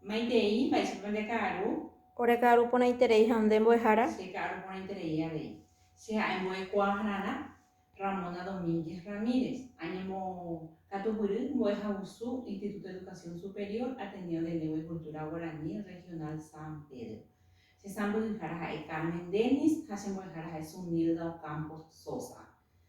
Maitei, mba'éichapa nde ka'aru? Ore ka'aru porãiterei ha nde mbo'ehára? Che ka'aru porãiterei avei. Che ha'e mbo'ekuaahára Ramona Domínguez Ramírez. Añembokatuguýry mbo'ehagusu Instituto de Educación Superior Ateneo de Lengua y Cultura Guaraní Regional San Pedro. Che sãmbyhyhára ha'e Carmen Dennis ha che mbo'ehára ha'e Zunilda Ocampos Sosa.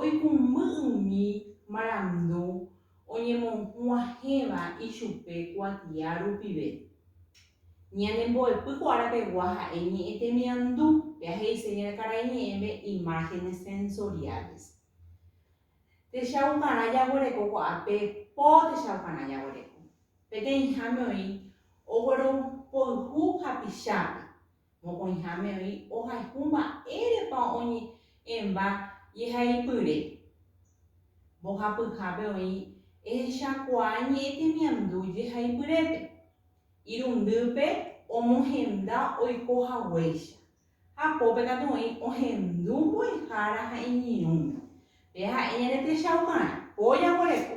Oikumby umi marandu oñemohu'ãhẽva ichupe kuatia rupive. Ñanembo'epy ko ára pegua ha'e ñe'ẽ temiandu, péa he'ise ñande karai ñe'ẽme imágenes sensoriales. Techaukarã jaguereko ko ápe po techaukarã jaguereko. Peteĩháme oĩ ogueropoyhu hapichápe, Mokõiháme oĩ ohayhu mba'érepa oñe'ẽva jehaipyre. Mbohapyhápe oĩ ehechakuaa ñe'ẽ temiandu jehaipyrépe, irundýpe omohenda oiko haguéicha, ha pópe katu oĩ ohendu mbo'ehára ha iñirũme. Pe ha'e ñandetechauka'arã, po jaguereko.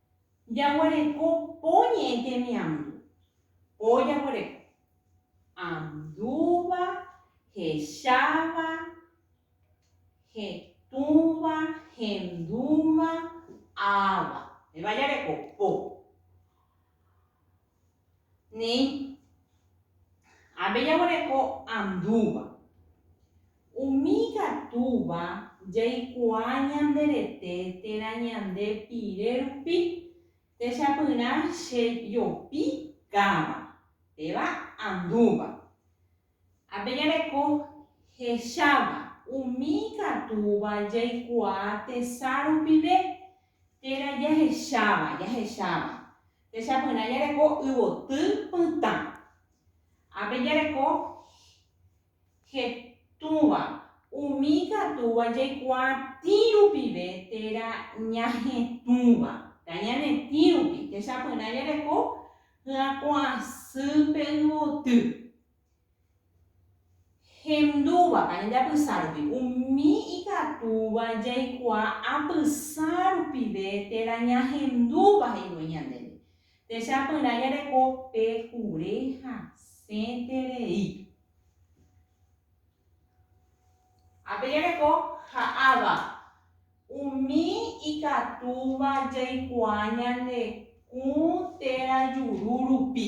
Jaguereko po ñe'ẽ temiandu. Po jaguereko. Andúva, hecháva, hetũva, hendúva, áva. Péva jareko po. Néi, ápe jaguereko andúva. Umi ikatúva jaikuaa ñande rete térã ñande pire rupi, techapyrã che jopi káva, péva andúva. Ápe jareko hecháva. Umi ikatúva jaikuaa tesa rupive térã jahecháva, jahecháva. Techapyrã jareko yvoty pytã. Ápe jareko hetũva. Umi ikatúva jaikuaatĩ rupive térã ñahetũva. Tañanetĩ rupi. Techapyrã jareko hyakuãsýpe yvoty. Hendúva pa ñandeapysa rupi. Umi ikatúva jaikuaa apysa rupive térã ñahendúva he'ívo ñandéve. Techapyrã jareko pe kure hasẽterei. Ha pe jareko ha'áva. Umi ikatúva jaikuaa ñande kũ térã juru rupi.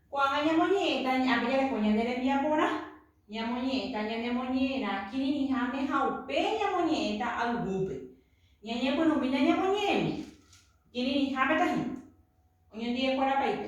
Ko'ág̃a ñamoñe'ẽta ña'ãme jareko ñane rembiaporã, ñamoñe'ẽta ñanemoñe'ẽrã kirirĩháme ha upe ñamoñe'ẽta ayvúpe. Ñañepyrũmína ñamoñe'ẽmi kirirĩháme tahína oñondive'ekuéra paite.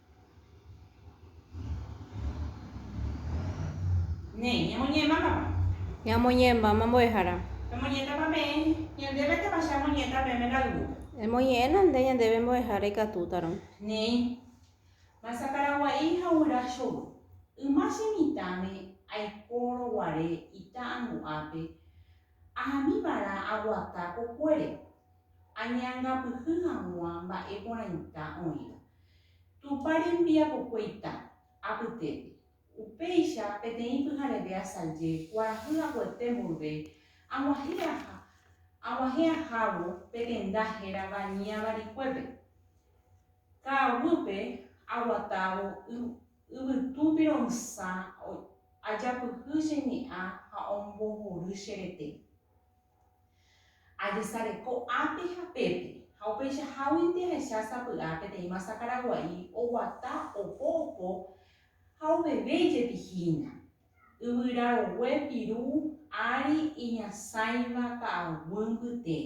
Néi, ñamoñe'ẽma mama. Ñamoñe'ẽma mbo'ehára. Pemoñe'ẽtama peẽ ñandéve tápa che amoñe'ẽta peẽme la yvúpe. Emoñe'ẽna nde ñandéve mbo'ehára ikatútarõ. Néi, masa Paragua'i ha guyra chovy. Yma che mitãme aikórõ guare ita angu'ápe, ahami vara aguata kokuére, añe'angapyhy hag̃ua mba'e porãita oĩva. Tupã rembiapokue ita, apytépe. Upéicha, peteĩ pyhareve asaje kuarahy aguete mborve, ag̃uahẽ aha, ag̃uahẽ ahávo pe tenda hérava Ñavarikuépe. Ka'aguýpe aguatávo yvytu pironsã ajapyhy che ñe'ã ha ombohory che rete. Ajesareko ápe ha pépe, ha upeichaháguinte ahecha sapy'a peteĩ masa karagua'i oguata opo opo ha oveve ijepi hína. Yvyra rogue piru ári iñasãiva ka'aguy mbyte.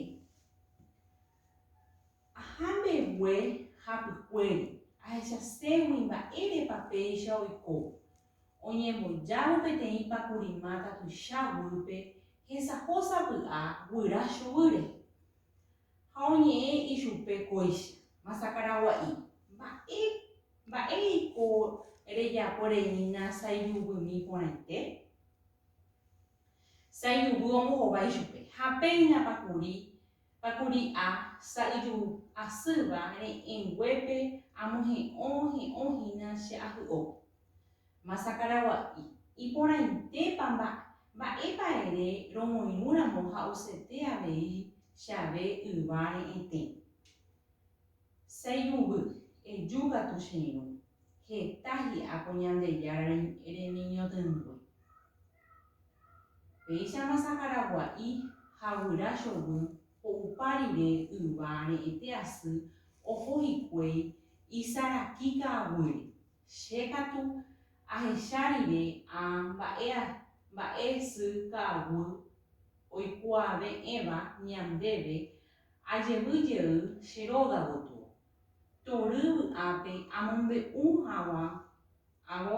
Aha mbegue hapykuéri, ahechaségui mba'érepa péicha oiko. Oñembojávo peteĩ pakurimáta tuicha guýpe hesaho sapy'a guyra chuguýre. Ha oñe'ẽ ichupe kóicha, Masakaragua'i, mba'e, mba'e eiko rejapo reína saijubymi porãite? Saijuvy ombohova ichupe, ha péina pakuri Ha kuri a sa'yju asýva re'ẽnguépe amohe'õ he'õ hína che ahy'o. Masa Karagua'i, iporãitépa mba, mba'épa ere romoirũ ramo ha osete avei che ave yva re'ẽtẽ. Sa'yjuvy, eju katu che irũ, heta hi'a ko Ñandejára remiñotỹngue. Péichama sakaragua'i ha guyra chovy ho'upa rire yva re'ẽte asy oho hikuéi isaraki ka'aguýre. Che katu ahecha rire a mba'e mba'e sy ka'aguy oikuaave'ẽva ñandéve ajevy jey che róga gotyo. Tory vy'ápe amombe'u haguã ávo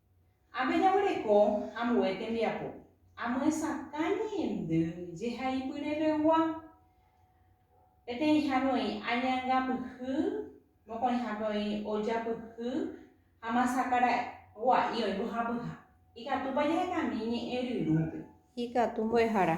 Ha pejaguereko ambue tembiapo, amyesakã ñe'ẽndy jehaipyreregua. Peteĩhápe oĩ añangapyhy, mokõihápe oĩ ojapyhy ha masaka ra'ygua'i oĩ mbohapyha. Ikatúpa jahekami ñe'ẽ ryrũpe? Ikatu mbo'ehára.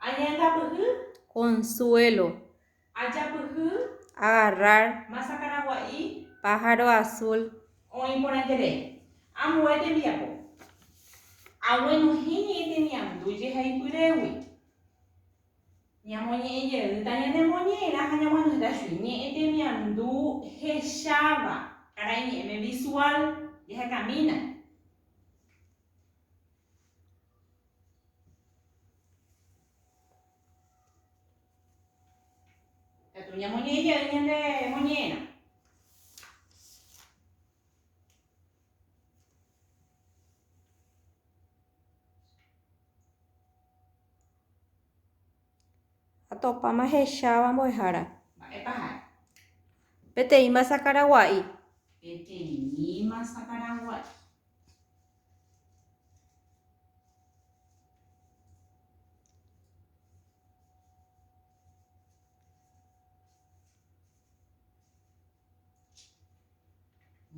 Añandapyhy. Consuelo. Ajapyhy. Agarrar. Masa karagua'i. Pájaro azul. Oĩ porãiterei. Ambue tembiapo. Aguenohẽ ñe'ẽ temiandu jehaipyrégui. Ñamoñe'ẽ jeýta ñanemoñe'ẽrã ha ñaguenohẽta chugui. Ñe'ẽ temiandu hecháva. Karai ñe'ẽme visual. Jahekamína. Atopáma hecháva mbo'ehára. Mba'épa ha'e? Peteĩ masa karagua'i. Peteĩ masa karagua'i.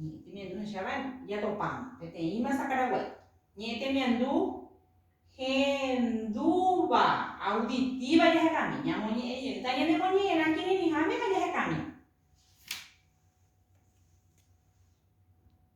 Ñe'ẽtemiandu hechávare jatopáma peteĩma sakaraguái. Ñe'ẽtemiandu hendúva, auditiva, jahekami. Ñamoñe'ẽ jeýta ñanemoñe'ẽrã kirirĩháme ha jahekami.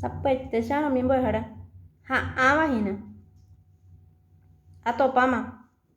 Sapy'aitecharõ umi mbo'ehára ha'ãva hína. Atopáma.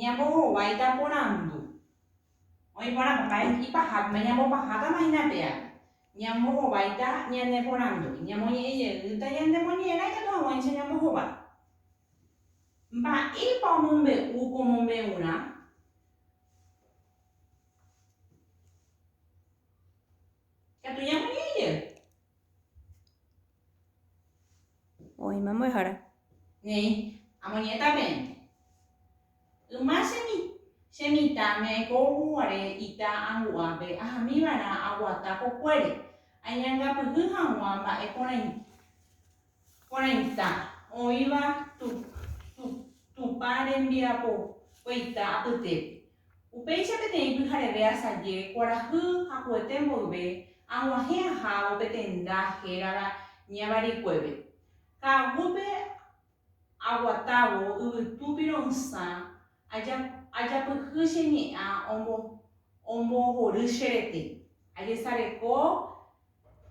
Ñambohováita porandu. Oĩ porã, papá he'i paha, péma ñambopahátama hína pe ára. Ñambohováita ñane porandúgui. Ñamoñe'ẽ jeýta ñande moñe'ẽrã ikatu hag̃uáicha ñambohova. Mba'épa omombe'u ko mombe'urã? Ikatu ñamoñe'ẽ jey. Oĩma mbo'ehára. Néi, amoñe'ẽta peẽme. Yma che mitãme aiko guare ita angu'ápe ahamiva'erã aguata kokuére, añangapyhy hag̃ua mba'e porãite. Porãita, oĩva Tupã rembiapokuaita apytépe. Upéicha peteĩ pyhareve asaje kuarahy hakuete mboyve ag̃uahẽ ahávo pe tenda hérava Ñavarikuépe. Ka'aguýpe aguatávo yvytu pirõ'ysã ajapyhy che ñe'ã ombohory che rete. Ajesareko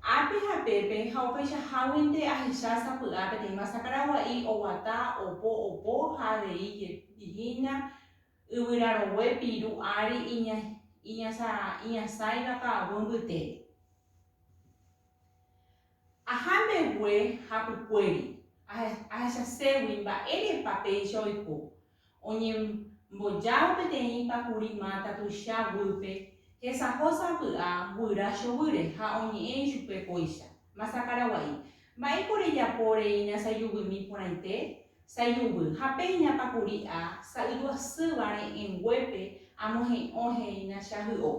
Ápe ha pépe ha opaichaháguinte ahecha sapy'a peteĩ masa karagua'i oguata opo opo ha avei jepi hína yvyrarogue piru ári iñasãiva ka'aguy mbytére. Aha mbegue hapykuéri, ahechaségui mba'érepa péicha oiko. Oñembojáva peteĩ pakuri máta tuicha guýpe, hesaho sapy'a guyra chovýre ha oñe'ẽ ichupe kóicha, Masa karagua'i, mba'éiko rejapo reína sayuvymi porãite? Sayuvy, ha péina pakuri a sa'yjuasýva re'ẽnguépe amohe'õ he'ína chajy'o.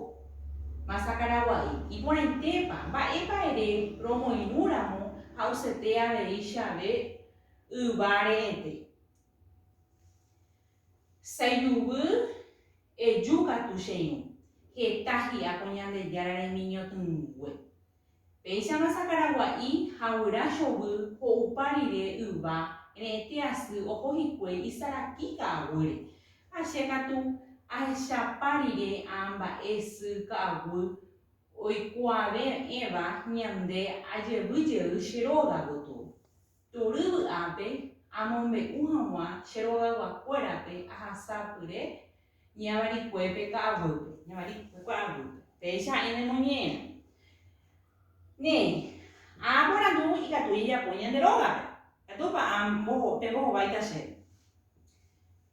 Masa karagua'i, iporãitépa, mba'épa ere romoirũ ramo ha osete avei chave yva re'ẽte? Saijuguy eju katu che irũ. Heta hi'a ko Ñandejára remiñotỹngue. Péichama sakaragua'i ha guyra chovy ho'upa rire yva re'ete asy oho hikuái isaraki ka'aguýre. Ha che katu ahechapa rire amba'e sy ka'aguy oikuave'ẽva ñande ajevy jey che róga gotyo. Tury vy'ápe amombe'u hag̃ua che rogayguakuérape ahasa pyre ñavarikuépe ka'aguýpe, ñavarikue ka'aguýpe. Péicha ha'e nemoñe'ẽrõ. Néi, aaporandu ikatu ijapo ñande rógape. Ikatúpa amboho, pembohováita chéve?